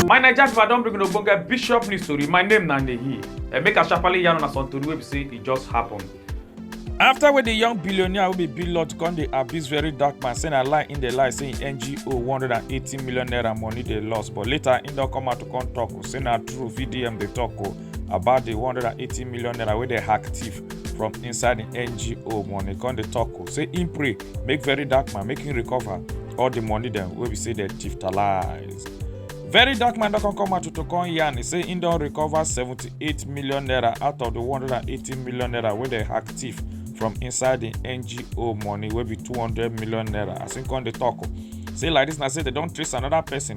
my naija pipo i don bring una ogbonge bishop news tori my name na nehi and make i sharparly yarn una some tori wey be say e just happen. afta wey di young billionaire wey be bill lord come dey abuse very dark man say na lie im dey lie say im ngo one hundred and eighty million naira money dey loss but later im don come out to come tok say na true vdm dey tok o. about the 180 million naira wey dey hack thief from inside the ngo money come dey talk o say im pray make very dark man make him recover all the money dem wey be say dem thief talize. very dark man don come come out to to come yarn e say im don recover 78 million naira out of the 180 million naira wey dem hack thief from inside the ngo money wey be 200 million naira as im come dey talk o say like this na say dem don trace another person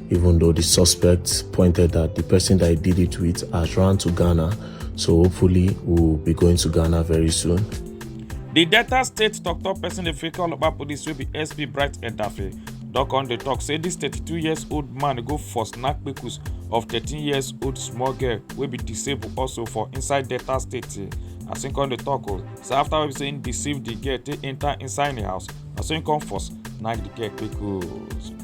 even though the suspects pointed that the person that he did it with has run to Ghana. So hopefully we'll be going to Ghana very soon. The Delta State Doctor person the Africa Olopa Police will be SP Bright Edafe. Doc on the talk say this 32 years old man go for snack kpekus of 13 years old small girl will be disabled also for inside Delta State. As him come the talk o, oh, so after we say him deceive the girl take enter inside the house, as him come force knack the girl kpekus.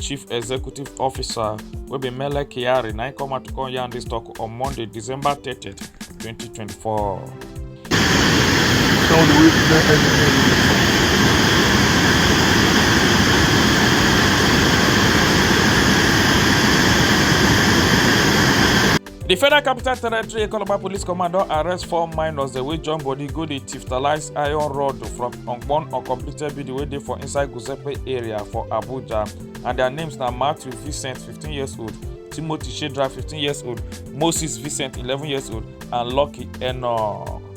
chief executive officer wey be mele kyari na im come out to come yarn dis tok on monday december 30 2024. di federal capital territory economic police command don arrest four minors dem wey join body go dey tiftalize iron rod from ogbon uncompleted building wey dey for inside gusepe area for abuja and dia names na matthew vincent fifteen years old timothy shedra fifteen years old moses vincent eleven years old and lucky enoch.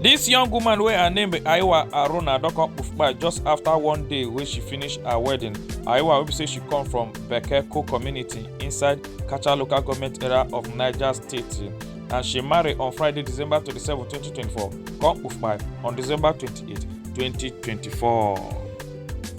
This young woman wey her name be Aiwa Aruna don come kpai just after one day wey she finish her wedding. Aiwa wey be say she come from Bekeko community inside Kacha local government area of Niger State and she marry on Friday, December 27, 2024, come kpai on December 28, 2024.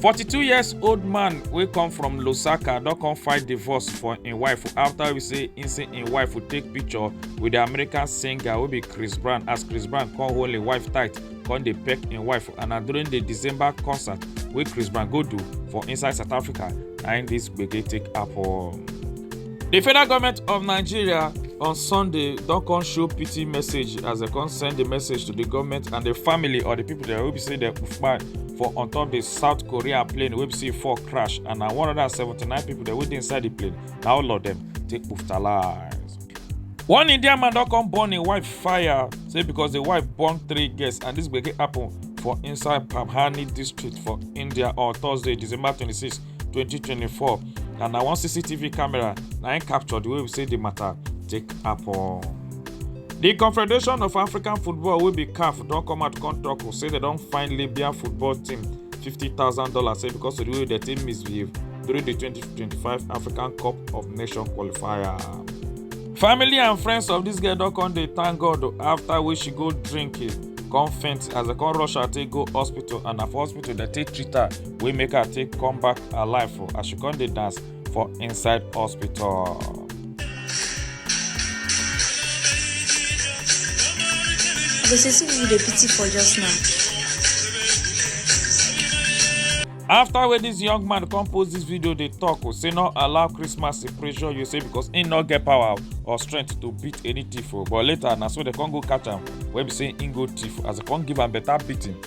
42 years old man wey come from Lusaka don come fight divorce for im wife after we say im say im wife would take picture with the American singer wey be Chris Brown as Chris Brown come hold im wife tight come dey peck im wife and na during the December concert wey Chris Brown go do for inside South Africa na im this gbege take happen. di federal goment of nigeria on sunday don come show pity message as dem come send di message to di goment and di family or di pipo dem wey be say dem kpai for on top di south korea plane wey be say e fall crash and na 179 pipo dem wey dey inside di plane na all of dem take kpuftalai. one indian man don come burn im wife fire say because di wife born three girls and dis gbege happun for inside pabhani district for india on thursday december 26 2024 and na one cctv camera na im capture the way we say the matter take happen. di confederation of african football wey be caf don come out come tok say dem don find libya football team fifty thousand dollars say because of the way dem take misbehave during di twenty twenty five african cup of nations qualifier. family and friends of dis girl don come dey thank god afta wey she go drink come faint as dem come rush her take go hospital and na for hospital dem take treat her wey make her take come back alive for as she come dey dance for inside hospital. go see see who you dey pity for just now. after wey dis young man come post dis video dey tok o say no allow christmas to pressure you say because im no get power or strength to beat any thief o but later na so dem come go catch am wey be say im go thief as dem come give am better beating